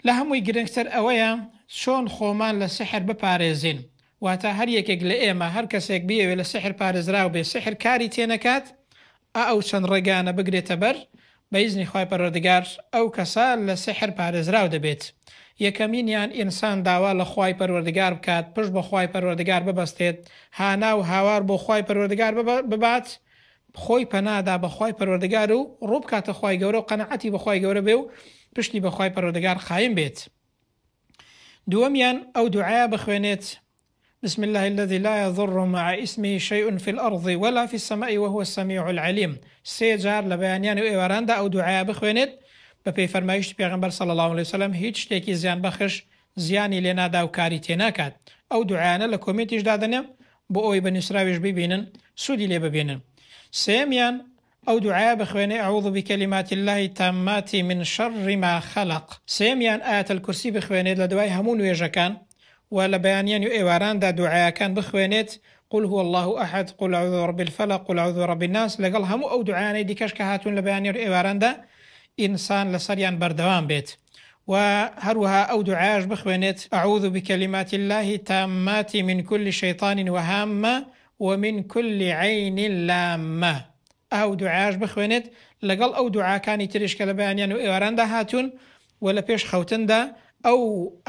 لە هەمووی گرنگتر ئەوەیە چۆن خۆمان لە سیحر بپارێزین، واتە هەر یەکێک لە ئێمە هەر کەسێک بیەوێت لە سیحر پارێزراو بێت سیحر کاری تێنەکات ئا ئەو چەند ڕێگایانە بگرێتە بەر بە ئیزنی خوای پەروەردگار ئەو کەسە لە سیحر پارێزراو دەبێت یەکەمینیان ئینسان داوا لە خوای پەروەردگار بکات پشت بە خوای پەروەردگار ببەستێت هانا و هاوار بۆ خوای پەروەردگار ببات خۆی پەنا دا بە خوای پەروەردگار و ڕوو بکاتە خوای گەورە و قەناعەتی بە خوای گەورە بێ و پشتی بە خوای پەروەردگار قایم بێت دووەمیان ئەو دوعایە بخوێنێت بسم الله الذي لا يضر مع اسمه شيء في الأرض ولا في السماء وهو السميع العليم سێ جار لە بەیانیان و ئێواراندا ئەو دوعایە بخوێنێت بە پێی فەرمایشتی پێغەمبەر صلی الله عليه وسلم هیچ شتێکی زیان بەخش زیانی لێ نادا و کاری تێ ناکات ئەو دوعایانە لە کۆمێنتیش دادەنێم بۆ ئەوەی بە نوسراویش بیبینن سودی لێ ببینن سێیەمیان ئەو دوعایە بخوێنێ اعوذ بکلمات اللە التامات من شر ما خلق سێیەمیان آیەت الکرسی بخوێنێت لە دوای هەموو نوێژەکان و لە بەیانیان و ئێواراندا دوعایەکان بخوێنێت قل هو اللە احد قل اعوذ برب الفلق قل اعوذ برب الناس لەگەڵ هەموو ئەو دوعایانەی دیکەش کە هاتوون لە بەیانیان و ئێواراندا ئینسان لەسەریان بەردەوام بێت وە هەروەها ئەو دوعایەش بخوێنێت، اعوذ بکلمات اللە التامات من کل شیطان وهامە ومن کل عین لامە، ئه و دوعایەش بخوێنێت لەگەڵ ئەو دوعاکانی تریش کە لە بەیانیان و ئێواراندا هاتوون، وە لە پێش خەوتندا ئەو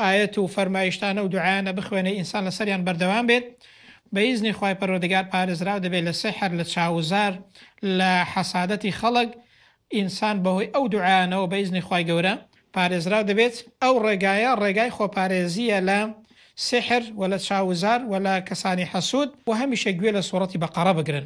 ئایەت و فەرمایشتانە و دوعایانە بخوێنێ ئینسان لەسەریان بەردەوام بێت بە ئیزنی خوای پەروەردگار پارێزراو دەبێت لە سیحر لە چاووزار لە حەسادەتی خەڵک ئینسان بەهۆی ئەو دوعایانەوە بە ئیزنی خوای گەورە پارێزراو دەبێت، ئەو ڕێگایە ڕێگای خۆپارێزییە لە سیحر ولە چاووزار ولە کەسانی حەسوود، وە هەمیشە گوێ لە سوڕەتی بەقەڕە بگرن